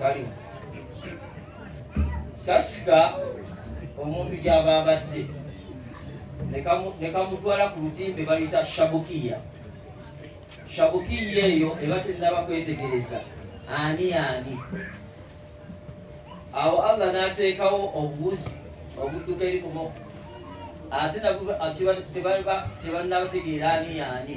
bali kasika omuntu gyaba abadde nekamutwala ku lutimbe baluyita shabukiya shabukiya eyo eba tenaba kwetegereza ani ani awo allah nateekawo obuwuzi obudduka eri kumoko ate nabwo tebannabategeera ani yaani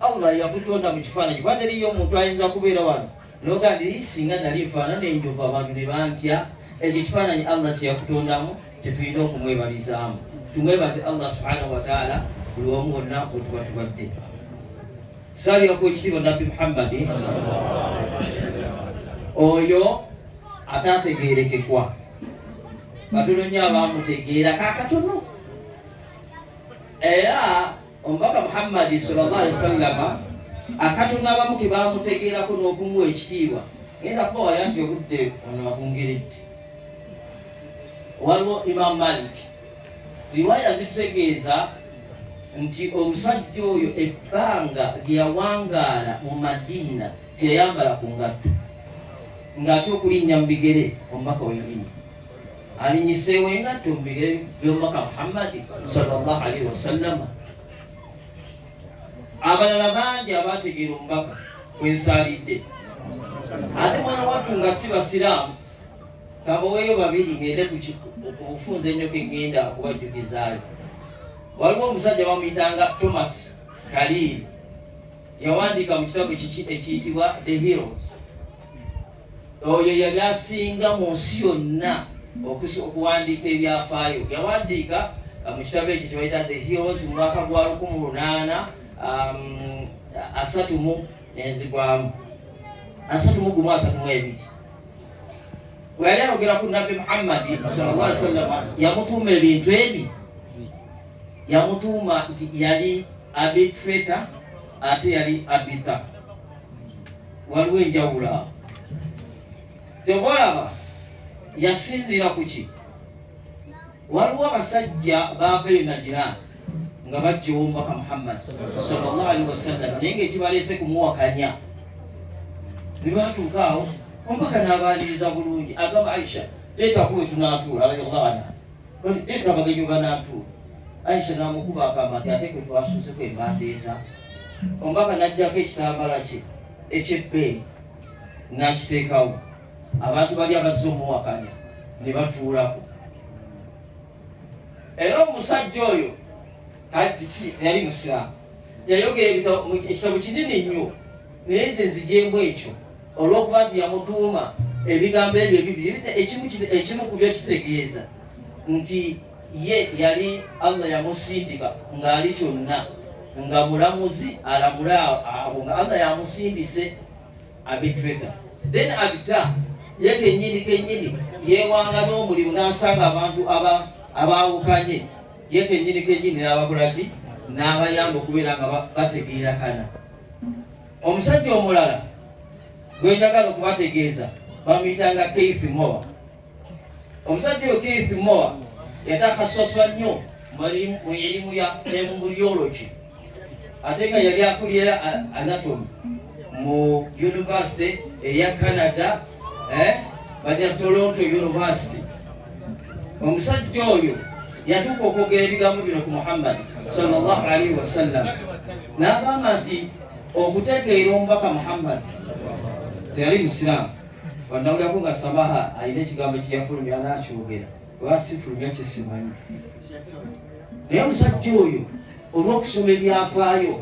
Allah yakutonda mu kifaananyi kuba teriyo omuntu ayinza kubeera wano noga nti singa nali nfaanana enjovu abantu ne bantya ekyo ekifaananyi Allah kye yakutondamu kye tulina okumwebalizaamu tumwebaze Allah subhanahu wa taala buli wamu wonna wetuba tubadde saaliraku ekitiibwa nabbi Muhammadi oyo ataategeerekekwa katono nnyo abaamutegeera kakatono era Omubaka Muhammadi sallallahu alaihi wasallama akatonda abamu ke baamutegeerako n'okumuwa ekitiibwa genda kubawaya nti obudde ono abungeredde waliwo imamu malik riwaya zitutegeeza nti omusajja oyo ebbanga lyeyawangaala mu madiina teyayambala ku ngatto ng'ate okulinnya mu bigere omubaka weyalimu Alinyiseewo engatto mu bigere by'omubaka Muhammadi sallallahu alaihi wasallama. Abalala bangi abaategeera omubaka kwe nsaalidde. Ate mwana wattu nga si Basiraamu kabaweeyo babiri ng'ende ku bufunze ennyo ke ŋŋenda okubajjukizaayo. Waliwo omusajja bamuyitanga Thomas Kaliiri yawandiika mu kitabo kiki ekiyitibwa The Heroes. Oyo yali asinga mu nsi yonna okuwandiika ebyafaayo. Yawandiika uh, mu kitabo ekyo kyebayita The Heroes mu mwaka gwa lukumu lunaana um, asatu mu enzigwamu asatu mu gumu asatu mu ebiri bwe yali ayogera ku nabbi Muhammadi sallallahu alaihi wasallam yamutuuma ebintu ebi yamutuuma nti yali abitreta ate yali abita waliwo enjawulo awo tebalaba yasinziira ku ki waliwo abasajja baabee najira nga bajjewo omubaka muhammad sallallahu alaihi wasallam naye ngaekibaleese kumuwakanya ne batuuka awo omubaka n'abaaniriza bulungi agamba aisha leeta kuwe tunaatuula radiallahu anha Kati ndeeta abagenyi we banaatuula, Aisha n'amukuba akaama nti ate gwe twasuuzeko embanda enta. Omubaka n'aggyako ekitambaala kye eky'ebbeeyi n'akiteekawo, abantu bali abazze omuwakanya ne batuulako. Era omusajja oyo kati ki teyali Musiraamu, yayogera ekitabo kinene nnyo naye nze nzigyemu ekyo Olw'okuba nti yamutuuma ebigambo ebyo ebibiri, ekimu ku byo kitegeeza nti ye yali Allah yamusindika ng'ali kyonna nga mulamuzi alamule abo nga Allah yamusindise abitreta then abita ye kenyini kenyini yewanga n'omulimu n'asanga abantu abaawukanye ye kenyini kenyini n'abakolaki n'abayamba okubeera nga bategeerakana Omusajja omulala gwe njagala okubategeeza bamuyitanga Keith Moa. Omusajja oyo Keith Moa yatakhassaswa nnyo mu elimu ya embryology ate nga yali akulira anatomy mu yunivasite eya Canada eh, batya Toronto University. Omusajja oyo yatuuka okwogera ebigambo bino ku Muhammad sallallahu alaihi wasallam n'agamba nti okutegeera omubaka muhammad teyali musiraamu wanawulirako nga samaha alina ekigambo kyeyafulumya nakyogera oba sifulumya kyesimanyi naye omusajja oyo olwokusoma ebyafaayo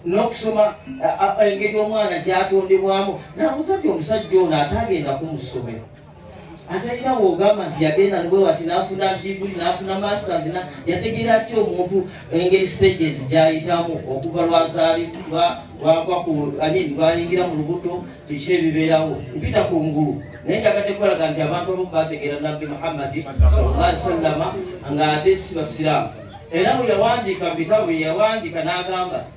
n'okusoma engeri omwana gyatondebwamu nabuza ti omusajja ono ate agenda kumusomero ate alina wogamba nti yagenda nbwewati nafuna diguli nafuna masters na yategeera ki omuntu engeri stages gyayitamu okuva lwazali lwayingira mu lubuto biki ebibeerawo mpita ku ngulu naye njagadde kukolaga nti abantu abamu bategeera nabbi muhammadi salli sallama nga ate si basiraamu era bwe yawandiika mu bitabo bye yawandiika n'agamba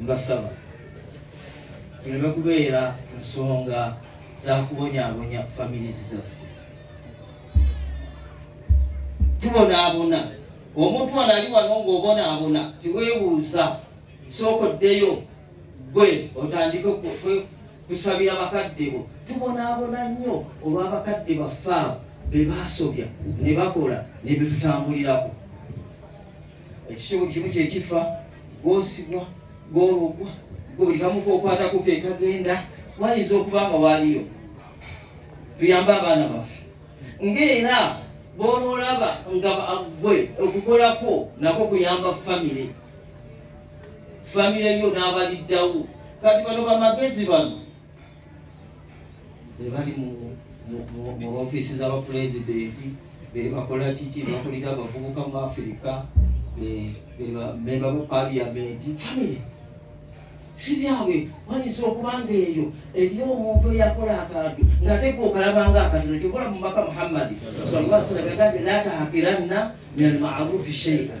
Mbasaba tuleme kubeera nsonga za kubonyabonya families zaffe. Tubonaabona omuntu wano ali wano ng'obonaabona, teweebuuza, sooka oddeyo gwe otandike kusabira bakadde bo. Tubonaabona nnyo olw'abakadde baffe abo be baasobya ne bakola ne bitutambulirako. ekikyo buli kimu kyekifa gwosibwa gwologwa gwe buli kamu kokwatako kekagenda wayinza okuba nga waliyo tuyambe abaana baffe ngaera bonolaba nga gwe okukolako nako kuyamba famire famire yo n'abaliddawo kati bano bamagezi bano bebali mu ofiisi z'abapulezidenti bebakola kiki bakulira abavubuka mu afirika bebamemba mu paliyamenti famire si byabwe wayinza okuba nga eyo eriyo omuntu eyakola akantu nga tegwa okalabanga akatono kyokola mumaka muhammadi salaa sallam yagambye la tahakiranna min almarufi sheian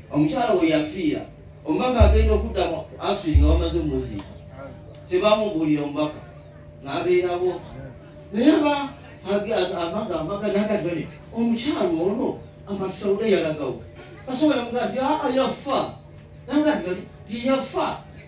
omukyala we yafiira omubaka agenda okudda mu asiri nga bamaze omuziika tebamubuulira omubaka n'abeerabo naye aba amagamba nagati bane omukyala ono amasawuda yalagawo basobola mugaa ti aa yafa nagati bali ti yafa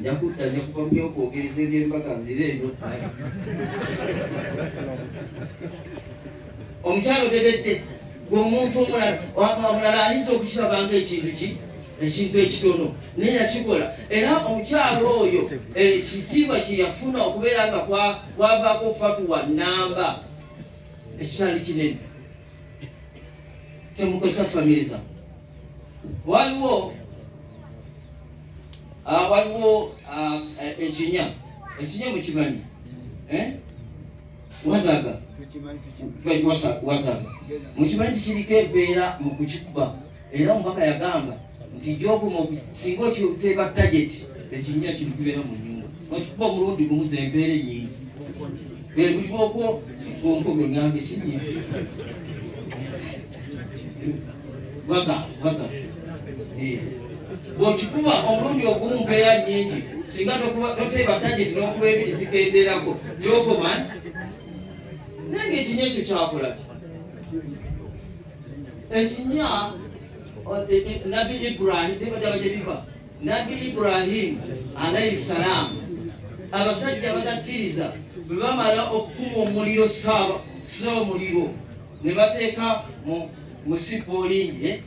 njakudda njakuba mubyokwogereza ebyembaga nzire eno omukyalo otegedde gwe omuntu omulala wakaomulala ayinza okukiraba nga ekintu ki ekintu ekitono naye yakikola era omukyalo oyo ekitiibwa kyeyafuna okubeera nga kwavaako fatuwa namba ekikyali kinene temukozesa famire zamu waliwo ah, waliwo ah, eh, ekinya ekinya mukimanyi eh? wazaga wazaga mukimanyi tikiriko embeera mu kukikuba era omubaka yagamba nti gyoguma singa okiteeba target ekinya kino kibeera mu nyumba okikuba omulundi gumu zembeera enyingi ebuli okwo sikonko gwe ngambe kinyingi waza waza eh. bwokikuba omulundi ogumu mpeeya nyingi singa toteeba tageti n'okuba ebiri zikenderako gyogoba naye ngaekinya ekyo kyakola ekinya eh, eh, nabbi ibrahim nebadaba gye biva nabbi ibrahimu alaihi salaamu abasajja abatakkiriza bwe bamala okukuma omuliro saaba sa omuliro ne bateeka mu sipoolingi eh?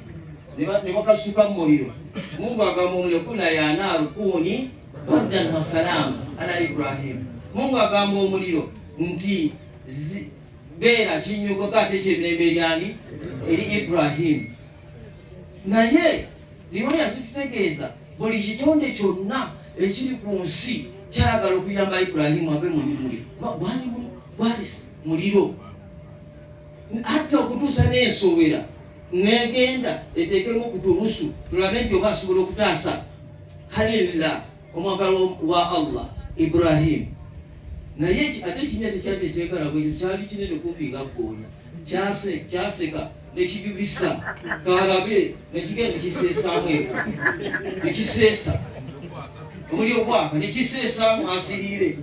ne bakasuka mu muliro mungu agamba omuliro kuna yanaaru kuuni bardan wasalaamu ala ibrahimu mungu agamba omuliro nti beera kinyugoka ate kyemirembe eryani eri ibrahimu naye niwe yazitutegeeza buli kitonde kyonna ekiri ku nsi kyagala okuyamba ibulahimu ave mulimuli gwali gwali muliro atta okutuusa n'ensowera negenda eteekemu okutulusu tulabe nti oba asobola okutaasa kalilla omwagalwa wa Allah Ibrahim naye ate ekinya tekyali tekyekala bwekyo kyali kinene kumpi nga ggoonya kyaseka nekijubisa kalabe nekigenda nekiseesaamu eka nekiseesa omuli okwaka nekiseesaamu asiriire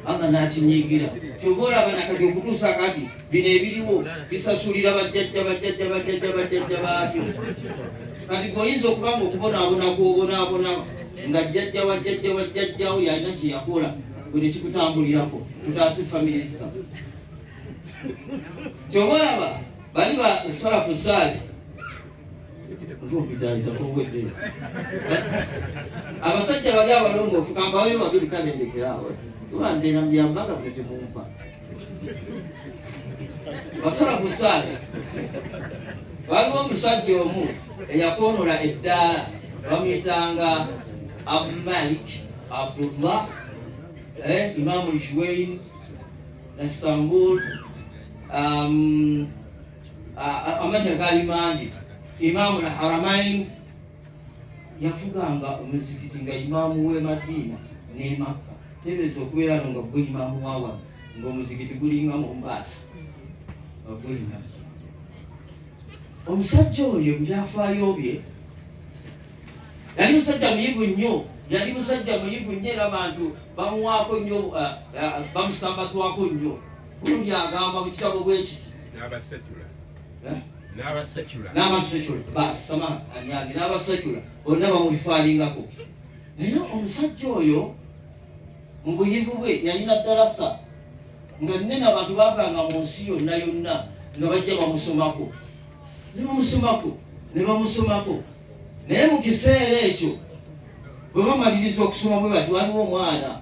allah nakinyiigira kyova olaba nakati okutuusa kati bino ebiriwo bisasulira bajjajja bajjajja bajjajja bajjajja baabyo kati gwe oyinza okuba nga okubonaabona gwobonaabona nga jjajja wa jjajja wa jjajjawo yalina kye yakola gwe nekikutambulirako tutaase famire zita kyoba olaba bali ba salafu saali abasajja bali abalongoofu kambaweyo babiri kalendekerawo ibandeera mubyambaga bwe temumpa osobola kuswala waliwo omusajja omu eyakwonola eddaala bamuyitanga abumalik abdullah eh, imamu ljuwain istanbul um, amanya gali mangi imamu lharamain yafuganga omuzikiti nga imaamu w'e madiina n'e makka tebeeza okubeera no nga gwe imaamu wa wano ng'omuzikiti gulinga mombaasa nga gulina omusajja oyo mubyafaayo bye yali musajja muyivu nnyo yali musajja muyivu nnyo era bantu bamuwaako nnyo eh, eh, bamusambatwako nnyo gundi agamba mu kitabo bwekiti n'abasecula n'abasecula basama anyange n'abasecula bonna bamulifaalingako naye omusajja oyo mu buyivu bwe yalina dalasa nga nene abantu bavanga mu nsi yonna yonna nga bajja bamusomako ne bamusomako ne bamusomako naye mu kiseera ekyo bwe bamaliriza okusoma bwe bati waliwo omwana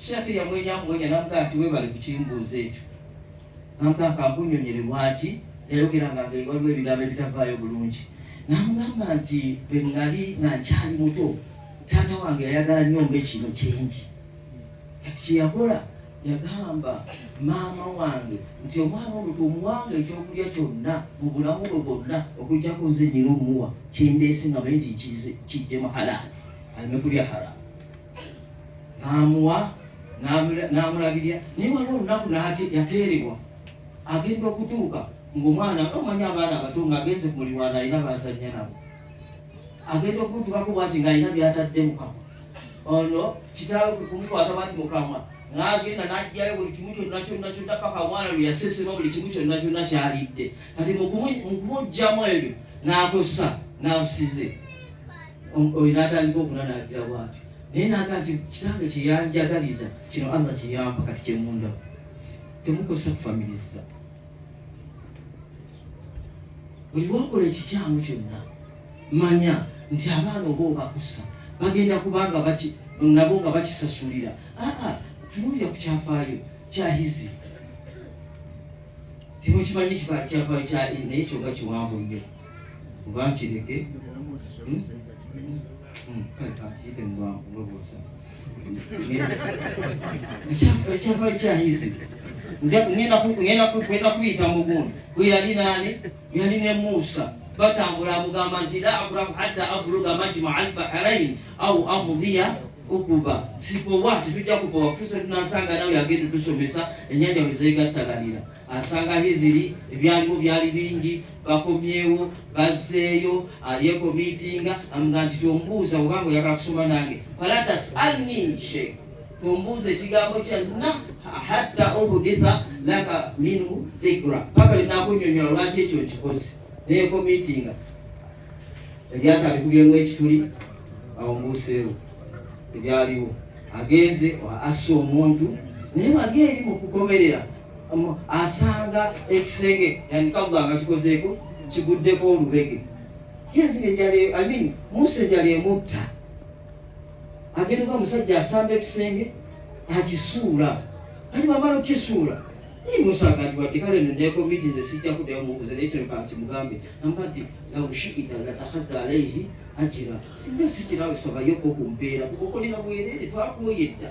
Sheikh yamwenya mwenya namugamba nti webale kukimbuuza ekyo namugamba kankunyonyere lwaki yayogeranga nga waliwo ebigambo ebitavaayo bulungi namugamba nti bwenali nga nkyali muto taata wange yayagala nyo mbe kino kyendi kati kyeyakola yagamba maama wange nti omwana ono tomuwanga ekyokulya kyonna mu bulamu bwe bwonna okujjako nze nyina omuwa kyendeese nga manyi nti kijje muhalaali aleme kulya haramu n'amuwa n'amulabirira naye waliwo olunaku yakeerewa agenda okutuuka ng'omwana omanyi abaana abato ng'agenze ku mulirwana alina bazannya nabo agenda okumutuukako bwati ng'alina byatadde mukama ono kitaawe kwe kumukwata bwati mukamwa n'agenda n'aggyayo buli kimu kyonna kyonna kyonna paka omwana lwe yasesema buli kimu kyonna kyonna kyalidde kati mu kumuggyamu ebyo n'akosa n'abusize oyo n'atandika okunanaabira bwatyo naye naga nti kitange kyeyanjagaliza kino allah kyeyampa kati kyemunda temukozesa kufamiriza buli wakola ekikyamu kyonna manya nti abaana oba obakusa bagenda kubanga nabo nga bakisasulira aa tunuulira ku kyafaayo kyahizi temukimanyi kifaa kyafaayo kya naye kyoga kiwanvu nnyo bakireke hmm? Hmm, kale kakiyite mubwangu mwebuuza ekyava kyayizi ngenda kubiyita mugundi gwe yali naani yali ne muusa batambula amugamba nti la abrahu hatta abluga majma albaharain au amudhiya okuba sikowa tetujja kukowa kutusa tunasanga nawe agenda tusomesa enyanja wezeegattaganira Asanga Hidhiri, ebyaliwo byali bingi, bakomyewo bazzeeyo, yekomiitinga amugamba nti tombuuza obanga oyagala kusoma nange, fala tasalni she, tombuuza ekigambo kyonna hatta uhuditha laka minhu dhikra, paka linakunyonyola lwaki ekyo nkikoze. Neyekomiitinga eryato alikubyemu ekituli, awo mbuuseewo ebyaliwo, agenze asse omuntu naye wali eri mu kukomerera asanga ekisenge yani kalla nga kikozeeko kiguddeko olubege amin musa enjala emutta agenda kuba omusajja asamba ekisenge akisuula kati bamala okukisuula naye musa agati wadde kale nekomiti nze sijja kuddayo mubuuza naye kino kankimugambe ambadde laushita latakhasa alaihi ajira singa sikirawe sabayoko ku mbeera kukokolera bwerere twakuwoyedda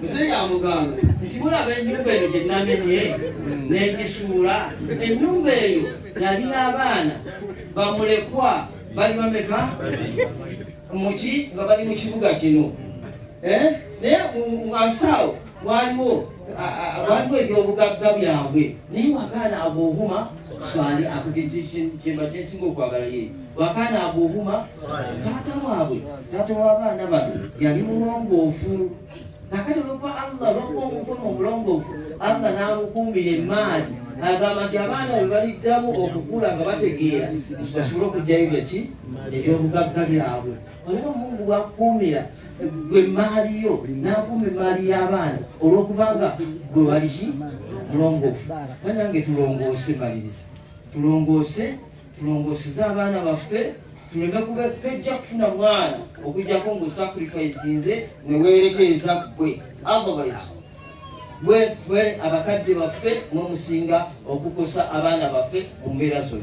muzeeyi amugamba nti mulaba ennyumba eyo gye namenye n'egisuula ennyumba eyo yali abaana bamulekwa bali bameka muki nga bali mu kibuga kino eh? naye asaawo waliwo waliwo ebyobugagga byabwe naye wakaana abuhuma swali akyembadde nsinga okwagala ye wakaana abuhuma taata waabwe taata w'abaana bano yali mulongoofu nakati olwokuba allah olwokuba omukono omulongoofu allah n'amukuumira emaali agamba nti abaana bwe baliddamu okukula nga bategeera basobole okujjayo byaki ebyobugagga byabwe Olaba Mungu bw'akukuumira ggwe emmaali yo n'akuuma emmaali y'abaana olw'okubanga ggwe wali ki mulongoofu. Banange tulongoose maliriza, tulongoose tulongooseze abaana baffe tuleme kuba tojja kufuna mwana okujjako ng'osacrifisinze ne weerekeeza ggwe otherwise bwe abakadde baffe mwe musinga okukosa abaana baffe mu mbeera zonna.